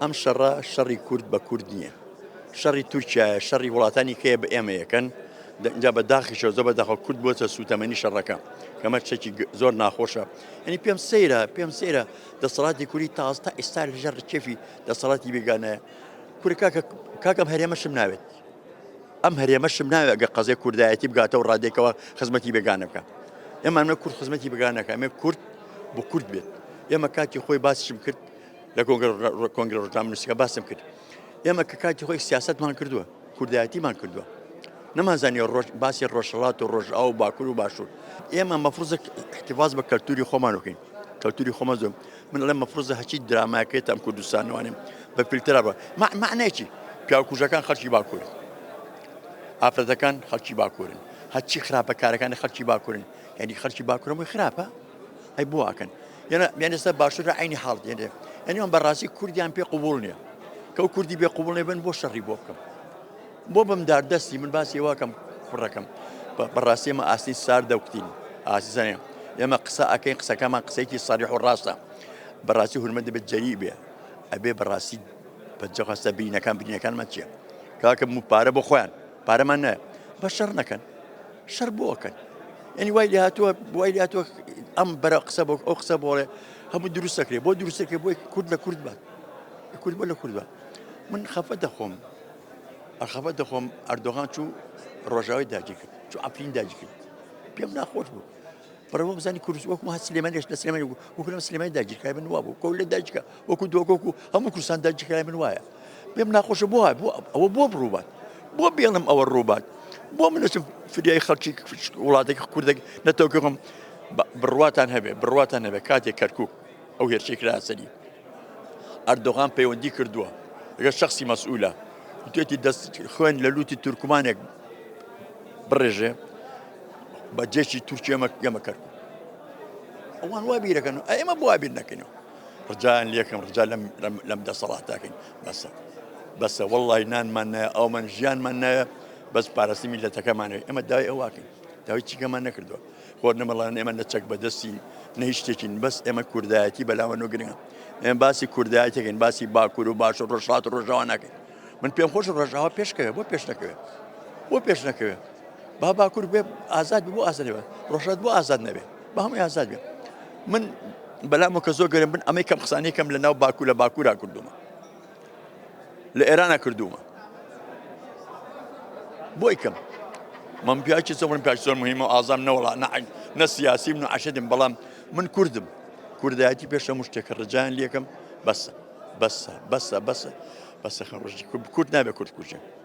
ئەم شەڕە شەڕی کورد بە کورد نیە شەڕی تورکیایە شەڕی وڵاتانی کەیە بە ئێمە یەکەن جا بە داخیشەوە زۆ بە داخە کورد بۆچە سووتەمەنی شەڕەکە کەمە چەکی زۆر ناخۆشە ئەنی پێم سەیرە پێم سەیرە دەسەڵاتی کوری تاز تا ئێستا لە ژەر کێفی دەسەڵاتی بێگانەیە کورکە کاکەم هەرێمەشم ناوێت ئەم هەرێمەشم ناوێت گە قەزێ کوردایەتی بگاتە و ڕادێکەوە خزمەتی بێگانە بکە ئێمانە کورد خزمەتی بگانەکە ئەمێ کورد بۆ کورد بێت ئێمە کاتی خۆی باسشم کرد لە کۆنگرە ڕۆژنامەنووسەکە باسم کرد ئێمە کە کاتی خۆی سیاستمان کردووە کوردایەتیمان کردووە نەمانزانانی ڕۆژ باسی ڕۆژهڵات و ڕۆژ ئاو باکوور و باشوور ئێمە مەفرزە احتیفاز بە کەلتوری خۆمان بکەین کەلتوری خۆمان زۆر من لە مەفرزە هەچی دراماکەێت ئەم کوردستانوانم بە فیلترا بە معنەیەکی پیاکوژەکان خەڵکی باکوور ئافرەتەکان خەڵکی باکوورن هەچی خراپەکارەکانی خەڵکی باکوورن یعنی خەڵکی باکوورەوەی خراپە ئەی بۆ ئەکەن یەنە یان ئێستا باشترە عینی حاڵ دێنێ یعنی ئەم بەڕاستی کوردیان پێ قوبول نییە کە و کوردی بێ قوبڵێ بن بۆ شەڕی بۆ بکەم بۆ بم دار دەستی من باسی واکەم کوڕەکەم بەڕاستی ئمە ئاستی سار دەکتین ئازیزانێ ئێمە قسە ئەەکەی قسەکەمان قسەیەکی ساریح و ڕاستە بەڕاستی هورمە دەبێت جەری بێ ئەبێ بەڕاستی پەنجەخواستە بینەکان بینەکانمان چیە کاکە مو پارە بۆ خۆیان پارەمان نایە بە شەڕ نەکەن شەر بۆکەن ئەنی وای لە هاتووە وای لە هاتووە ئەم بەرە قسە بۆ ئەو قسە بۆڵێ هەموو دروستەکرێ بۆ دروستەکرێ بۆی کورد لە کورد بات کورد بۆ لە کورد بە من خەفە دەخۆم ئەخەفە دەخۆم ئەردۆغان چوو ڕۆژاوی داگیرکرد چوو ئەفرین داگیرکرد پێم ناخۆش بوو بەڕێ وەک بزانانی کورس وەکو هە سلێمانێش لە سلێمانی بوو وەکو لەم سلێمانی داگیرکای من وابوو کەول لە داجکە وەکو دۆگۆک و هەموو کورسان داگیرکای من وایە پێم ناخۆشە بۆ بۆ ئەوە بۆ بڕووبات بۆ بێڵم ئەوە ڕووبات بۆ منەچم فریای خەڵکی وڵاتێک کوردێک نەتەوەکەم بڕواتان هەبێ بڕواتان هەبێ کاتێک کەرکک ئەو هێرشەی کرایە سەری، ئەردۆغان پەیوەندی کردووە لەگەڵ شەخسی مەسئولە، گوتوویەتی دەست خوێن لە لووتی تورکمانێک بڕێژێ بە جێشی تورکیە مە گەمە کەرکووک. ئەوان وا بیرەکەن و ئێمە بۆ بیر نەکەینەوە ڕجایان لەکەم ڕجا لەم دەسەڵاتاکەین بەسە بەسە وەڵی نانمان نایە ئەومان ژیانمان نایە بەس پارەسی میلەتەکەمانێت ئێمە دای ئەوواکەین داوای چیکەمان نەکردووە خۆر نەمەڵێن ئێمە نە چەک بەدەستی نە هیچ شتێکین بەس ئێمە کوردایەتی بەلاوە نوگرنگە ئێمە باسی کوردایەتێکین باسی باکوور و باش و ڕۆژهات و ڕۆژاوا ناکەین من پێم خۆش ڕژاوا پێشکەوێ بۆ پێش نەکەوێت بۆ پێش نەکەوێت با باکوور بێ ئازاد بۆ ئازادەوە ڕۆژات بۆ ئازاد نەبێت بە هەمووی ئازاد بێت من بەلام کە زۆر گەرم بن ئەمەی کەم قسانەکەم لە ناو باکوور لە باکوورا کردومە لە ئێرانە کردوومە بۆی کەم من پیاکی سەفرم پیاک زۆر مهمە و ئازام نەوەڵا نەعین نە سیاسی من و عشدم بەڵام من کوردم کوردایەتی پێشە مشتێکە ڕجان لەکەم بەسە بەسە بەسە بەسە بەسە خەڕژی کورد نابێت کورد کوژێن